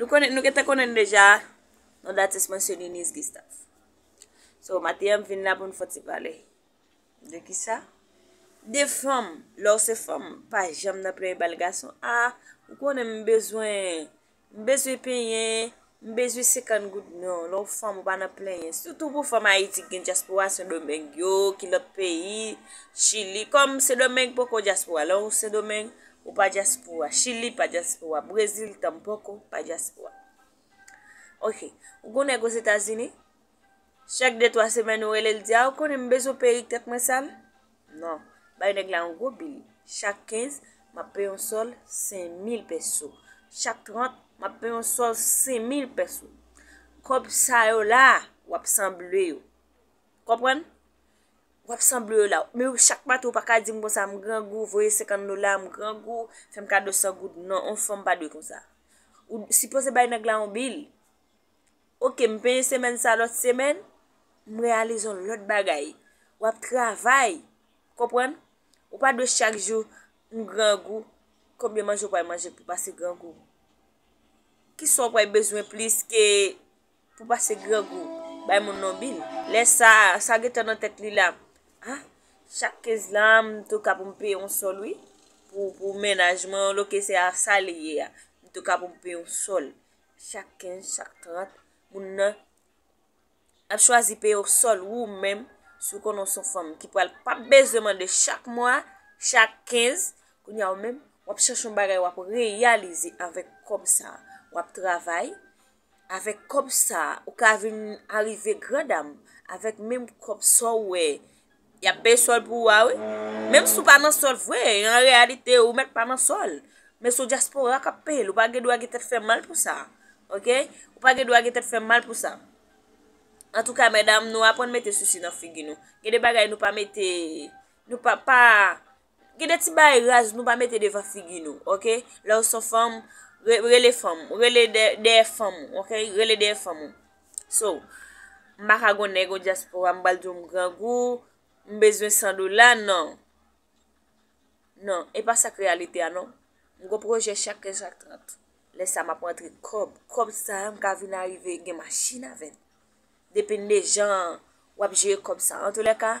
Nou konnen, nou gen te konnen l deja, non datis mwen se Niniz Gistav. So, maten an m vin la pou n fè ti pale. De ki sa? De fanm, lè w se fanm, pa janm nan plenyen bal gason. A, ou konnen m bezwen, m bezwen penyen, m bezwen senkant goud. Non, lè w fanm ou pa nan plenyen. Sitou pou fanm Ayiti ki gen dyaspora, Sendomeng yo, ki lòt peyi, Chili. Kòm Sendomeng poko dyaspora, lè w Sendomeng, Ou pa dyaspora. Chili pa dyaspora. Brezil tanpoko pa dyaspora. Ok. Ou gon nèg ozetazini? Chak de twa semèn ou rele l di a ou konnen m bezwen perik tèt mwen sal? Non. Bay nèg la yon gwo bil. Chak 15, m ap peye yon sòl 5000 pèso. Chak 30, m ap peye yon sòl 5000 pèso. Kòb sa yo la, w ap sanble yo. Konprann? wap sanble yo la men chak maten ou paka dim konsa m grangou voye 50 dola m grangou fèm kado 100 goud non on fanm pa dwe konsa ou sipoze bay nèg la on bil ok m penyen semèn sa lòt semèn m reyalize on lòt bagay wap travay ou konprann ou pa dwe chak jou m grangou konbyen manje ou pral manje pou pase grangou kisa ou pral bezwen plis ke Pou pase grangou, bay moun non bil. Lè sa a, sa gentan nan tèt li la, A, chak 15 la, m tou ka pou m peye yon sòl wi. Pou mennaj mwen, yon loke se a sa li ye a. M tou ka pou m peye yon sòl. Chak 15, chak 30, moun nan ap chwazi peye yon sòl ou menm si w konnen w son fanm ki pral pa bezwen mande chak mwa, chak 15. Kounye a ou menm, w ap chèche yon bagay w ap reyalize avèk kòb sa a. W ap travay, Avèk kòb sa ou ka vin arive gran dam avèk menm kòb sa ou wè yap peye sòl pou ou a wi. Menm si ou pa nan sòl vre an reyalite ou mèt pa nan sòl men se ou dyaspora kap peyel ou pa gen dwa gen tèt fè mal pou sa ok ou pa gen dwa gen tèt fè mal pou sa. Antouka medam nou aprann mete sousi nan figi nou gen de bagay nou pa mete nou pa pa Gen de ti bagay raz nou pa mete devan figi nou ok lèw son fanm rele fanm ou rele dèyè fanm ou ok rele dèyè fanm ou so m paka gon nèg o dyaspora m pral diw m grangou m bezwen 100 dola nan nan e pa sak reyalite a non m gon pwojè chak 15 ak 30 lè sa map rantre kòb kòb sa m ka vin arive gen machin avèl depende jan wap jere kòb sa antolèka.